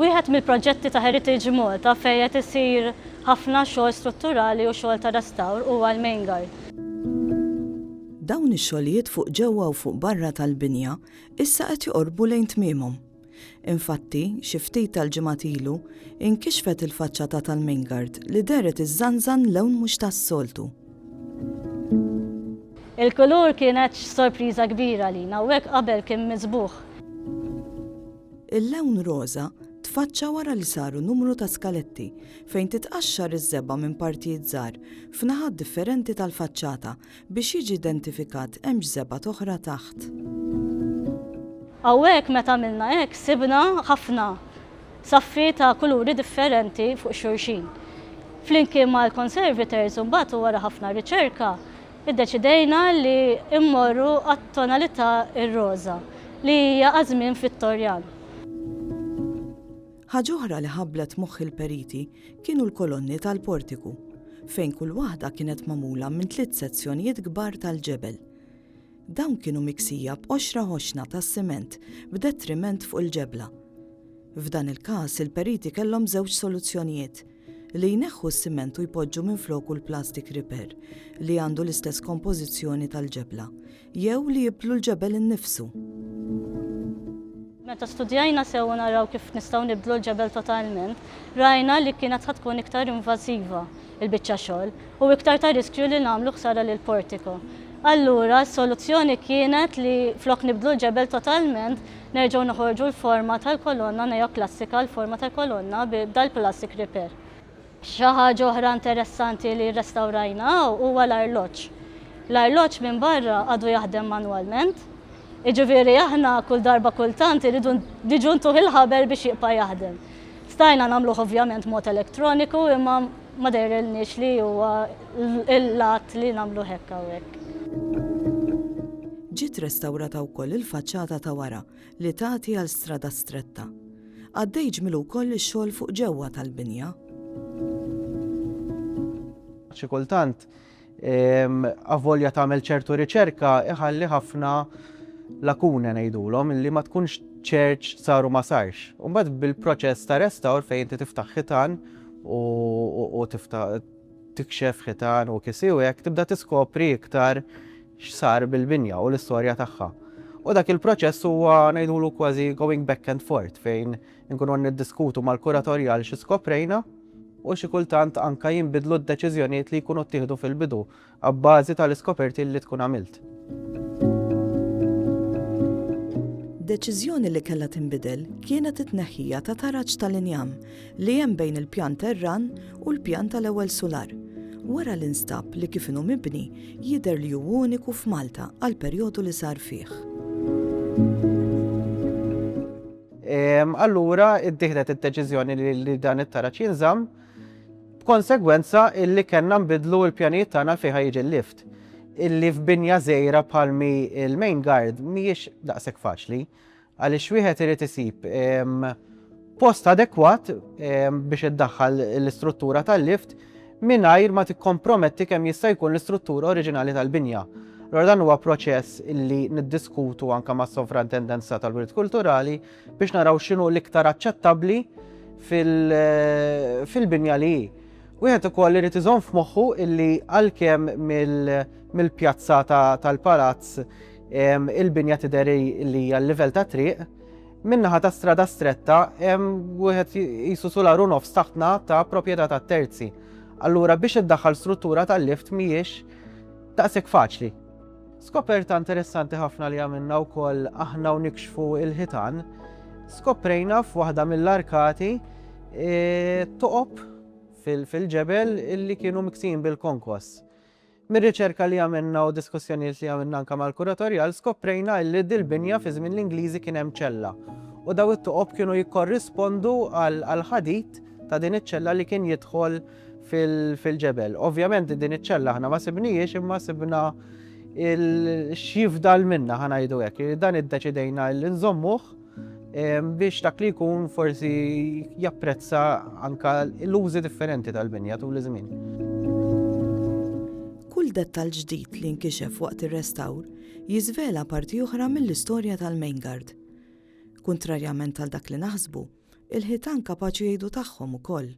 Wieħed mill-proġetti ta' Heritage Malta fejn qed isir ħafna xogħol strutturali u xogħol ta' restawr huwa l-Main Guard. Dawn ix-xogħlijiet fuq ġewwa u fuq barra tal-binja issa qed joqorbu lejn tmiemhom. Infatti, xi ftit tal-ġimgħat ilu, inkixfet il-faċċata tal-Mingard li dehret iżżanżan lewn mhux tas-soltu. Il-kulur kienet sorpriża kbira għalina u hekk qabel kien miżbugħ. Il-lewn roża tfaċċa wara li saru numru ta' skaletti fejn titqaxxar iż-żebgħa minn partijiet żgħar f'naħat differenti tal-faċċata Biex jiġi identifikat hemm x'żebgħat oħra taħt. Hawnhekk meta għamilna hekk sibna ħafna saffi ta' kuluri differenti fuq xulxin. Flimkien mal-conservators u mbagħad u wara ħafna riċerka iddeċidejna li mmorru għat-tonalità r-roża li hija għaż-żmien Vittorjan. Ħaġa oħra li ħabblet moħħ il-periti kienu l-kolonni tal-portiku, fejn kull waħda kienet magħmula minn tliet sezzjonijiet kbar tal-ġebel. Dawn kienu miksija b'qoxra ħoxna tas-siment b'detriment fuq il-ġebla. F'dan il-każ il-periti kellhom żewġ soluzzjonijiet – li jneħħu s-siment u jpoġġu minfloku l-plastik riper li għandu l-istess kompożizzjoni tal-ġebla, jew li jibdlu l-ġebel innifsu. Meta studjajna sewwa naraw kif nistgħu nibdlu l-ġebel totalment, rajna li kienet ħa tkun iktar invażiva l-biċċa xogħol u iktar ta' riskju li nagħmlu ħsara lill-portiko. Allura, s-soluzzjoni kienet li flok nibdlu l-ġebel totalment, Nerġgħu noħorġu l-forma tal-kolonna neoklassika, l-forma tal-kolonna bi dal-plastic repair. Xi ħaġa oħra interessanti li rrestawrajna hawn huwa l-arloġġ. L-arloġġ minn barra għadu jaħdem manwalment, jiġifieri aħna kull darba kultant irridu niġu ntuh il-ħabel biex jibqa' jaħdem. Stajna nagħmluh ovvjament mod elettroniku imma. Ma jidhirlniex li huwa l-att li nagħmluh hekk hawnhekk. Ġiet restawrata wkoll il-faċċata ta' wara li tagħti għal strada stretta. Għaddej ġmielu wkoll ix-xogħol fuq ġewwa tal-binja. Xi kultant avolja tagħmel ċertu riċerka iħalli ħafna lakune ngħidulhom li ma tkunx ċerċ saru ma sarx. Umbagħad bil-proċess ta' restawr fejn inti tiftaħ ħitan u tiftaħ tikxef ħitan u kisiwek tibda tiskopri iktar x'sar bil-binja u l-istorja tagħha. U dak il-proċess huwa ngħidulu kważi going back and forth fejn Inkunu qed niddiskutu mal-kuratorji għal xi skoprejna u xi kultant anke jinbidlu d-deċiżjonijiet li jkunu ttieħdu fil-bidu abbażi tal-iskoperti li tkun għamilt. Deċiżjoni li kellha tinbidel kienet it-tneħħija ta' taraġ tal-injam li hemm bejn il-pjan terran u l-pjan tal-ewwel sular wara li nstab li kif inhu mibni jidher li hu uniku f'Malta għall-perjodu li sar fih. Allura ittieħdet id-deċiżjoni li dan it-taraġ jinżamm b'konsegwenza illi kellna nbidlu l-pjanijiet tagħna l fejn jiġi l-lift. Illi f'binja żejra bħalmi il-main guard mhijiex daqshekk faċli għaliex wieħed irid isib post adekwat biex iddaħħal l-istruttura tal-lift mingħajr ma tikkomprometti kemm jista' jkun l-istruttura oriġinali tal-binja. Allura dan huwa proċess illi niddiskutu anke mas-Sovrantendenza tal-Wirt Kulturali biex naraw x'inhu l-iktar aċċettabbli fil-binja li hi. Wieħed ukoll irid iżomm f'moħħu illi għalkemm mill-pjazza tal-palazz il-binja tidher li hija l-livell tat-triq, Min-naħa ta' Strada Stretta hemm wieħed qisu sular u nofs taħtna ta' proprjetà ta' terzi. Allura biex iddaħħal struttura tal-lift mhijiex daqshekk faċli. Skoperta interessanti ħafna li għamilna wkoll aħna u nikxfu il-ħitan, skoprejna f'waħda mill-arkati e, toqob fil-ġebel illi kienu miksin bil-konkos. Mir-riċerka li għamilna u diskussjonijiet li għamilna anke mal-kuratorjal skoprejna illi dil-binja fi żmien l-Ingliżi kien hemm ċella u daw it-toqob kienu jikkorrispondu għall-ħadid ta' din iċ-ċella li kien jidħol fil-ġebel. Ovvjament din iċ-ċella aħna ma sibnihiex imma sibna x'jifdal minnha ħa ngħidu hekk. Dan iddeċidejna li nżommuh. biex dak li jkun forsi japprezza anka l-użi differenti tal-binja tul iż-żmien. Kull dettal ġdid li nkixef waqt ir-restawr jiżvela parti oħra mill-istorja tal-Maingard. Kuntrarjament għal dak li naħsbu, il-ħitan kapaċi jgħidu tagħhom ukoll.